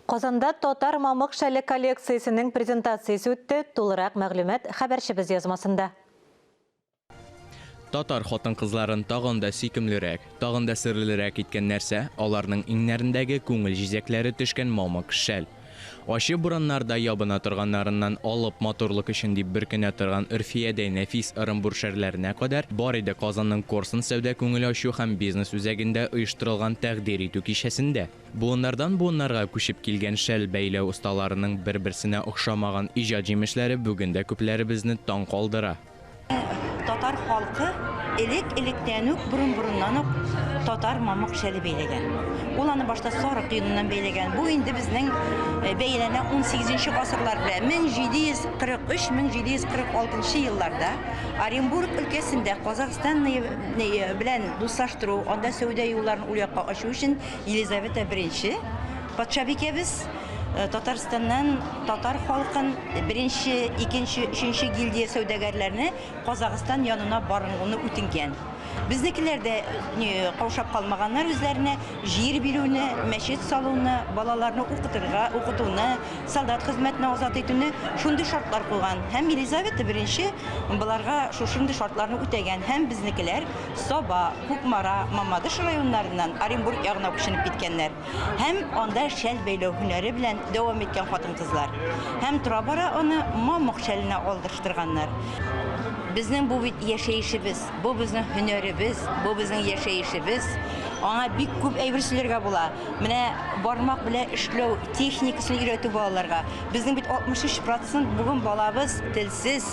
Казанда Татар мамык шәле коллекциясенең презентациясе үтте, тулырак мәгълүмат хәбәрчебез язмасында. Татар хатын-кызларын тагын да сөйкемлерәк, тагын да серлерәк иткән нәрсә, аларның иңнәрендәге күңел җизәкләре төшкән мамык шәл. Ачы бураннарда ябына торганнарыннан алып матурлык өчен дип бөркенә торган өрфиядәй нәфис ырымбур шәрләренә кадәр бар иде Казанның Корсун сәүдә-күңел ачу һәм бизнес үзәгендә оештырылган тәкъдир итү кичәсендә. Буыннардан буыннарга күчеп килгән шәл бәйләү осталарының бер-берсенә охшамаган иҗат җимешләре бүген дә күпләребезне таң калдыра. Татар халкы элек-электән үк, борын-борыннан ук татар мамык шәле бәйләгән. Ул аны башта сарык йоныннан бәйләгән. Бу инде безнең бәяләнә унсигезенче гасырлар белән. 1743-1746 елларда Оренбург өлкәсендә Казахстан белән дуслаштыру, анда сәүдә юлларын ул якка ачу өчен Елизавета I, патшабикәбез Татарстаннан татар халкын беренче, икенче, өченче гильдия сәүдәгәрләрне Казахстан янына барынгуны үтенгән. Безнекеләр дә каушап калмаганнар үзләренә җир бирүне, мәчет салуны, балаларны укытырга, укытуны, солдат хезмәтенә азат итүне шундый шартлар куйган. Һәм Елизавета I боларга шушындый шартларны үтәгән һәм безнекеләр Саба, Кукмара, Мамадыш районнарыннан Оренбург ягына күченеп киткәннәр һәм анда шәл бәйләү һөнәре белән дәвам иткән хатын-кызлар һәм тора-бара аны мамык шәленә алдырыштырганнар. Безнең бу бит яшәешебез, бу безнең һөнәребез, бу безнең яшәешебез. Аңа бик күп әйбер сөйләргә була. Менә бармак белән эшләү техникасын өйрәтү балаларга. Безнең бит 63 процент бүген балабыз тел. Сез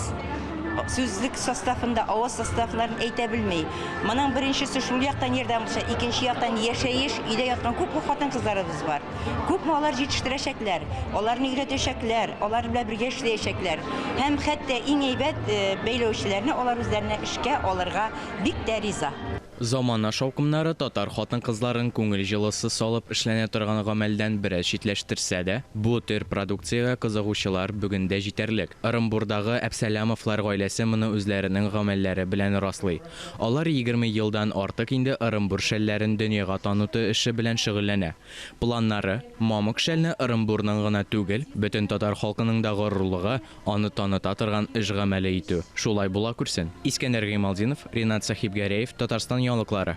сүзлек составында авыз составларын әйтә белми. Моның беренчесе шул яктан ярдәм булса, икенче яктан яшәеш, өйдә яткан күпме хатын-кызларыбыз бар. Күпме алар җитештерәчәкләр, аларны өйрәтәчәкләр, алар белән бергә эшләячәкләр. Һәм хәтта иң әйбәт, бәйләүчеләрне алар үзләренә эшкә алырга бик тә риза. Замана шаукымнары татар хатын-кызларын күңел җылысы салып эшләнә торган гамәлдән бераз читләштерсә дә, бу төр продукциягә кызыгучылар бүген дә җитәрлек. Ырымбурдагы Әпсәләмовлар гаиләсе моны үзләренең гамәлләре белән раслый. Алар егерме елдан артык инде Ырымбур шәлләрен дөньяга таныту эше белән шөгыльләнә. Планнары, мамык шәлне Ырымбурның гына түгел, бөтен татар халкының да горурлыгы, Аны таныта торган эш гамәле итү шулай була күрсен. Искәндәр Гыймалтдинов, Ринат Сәхибгәрәев, Татарстан яңалыклары.